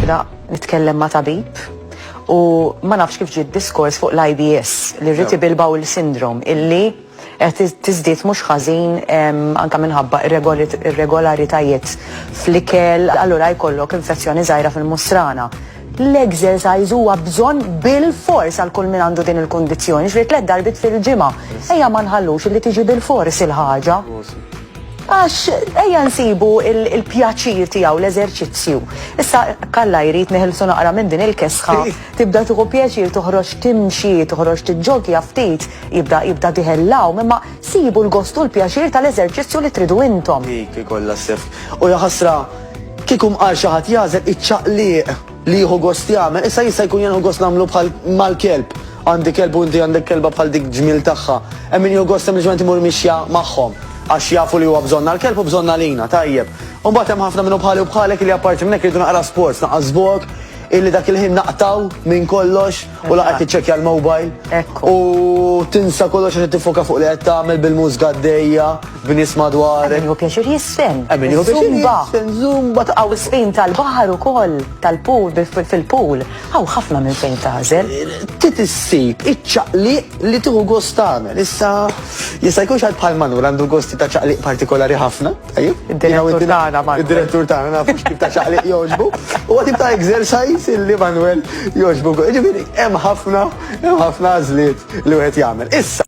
Bda nitkellem ma' tabib u ma nafx kif ġiet diskors fuq l-IBS, li rriti bilbaw il sindrom illi qed tiżdied mhux ħażin anke minħabba irregolaritajiet fl-ikel, allura jkollok infezzjoni żgħira fil-musrana. L-exercise huwa bżonn bilfors għal kull min għandu din il-kundizzjoni, ġifieri tliet darbiet fil-ġimgħa. Ejja ma nħallux illi tiġi bilfors il-ħaġa. Għax ejja nsibu l-pjaċir tiegħu l-eżerċizzju. Issa hekk Alla jrid neħilsu naqra minn din il-kesħa, tibda tieħu pjaċir toħroġ timxi, toħroġ tiġġogja ftit, jibda jibda diħel l-għawm, imma sibu l-gost u l-pjaċir tal-eżerċizzju li tridu intom. Dik ikollha s-sefq. U jaħasra Kieku mqar xi ħadd jagħżel iċ-ċaqliq li jieħu gost jagħmel, issa jista' jkun jenħu gost nagħmlu bħal mal-kelb. Għandi kelb u inti għandek kelba bħal dik ġmiel tagħha. Hemm min jieħu gost sempliċement imur mixja magħhom għax jafu li huwa bżonna l-kelb u bżonna lina, tajjeb. U mbagħad hemm ħafna minnu bħali u bħalek li apparti minn hekk iridu naqra sports, naqas żvok, illi dak il-ħin naqtaw minn kollox, u laqgħet tiċċekkja l-mobile u tinsa kollox għax tifoka fuq li qed tagħmel bil-mużga għaddejja b'nies madwarek. Min hu pjaċir jisfen. Min hu pjaċir jisfen, zumba taqaw isfin tal-baħar ukoll, tal-pool, fil-pool. Hawn ħafna minn fejn tażel. Tit issib iċ-ċaqliq li tieħu gost tagħmel. Issa jista' jkun xi bħal manur għandu gosti ta' ċaqliq partikolari ħafna. Id-direttur tagħna Manuel. Id-direttur tagħna nafu x'tip ta' ċaqliq jogħġbu. Huwa tip ta' exercise li Manuel jogħġbu. Ġifieri hemm ħafna hemm ħafna għażliet li wieħed jagħmel. Issa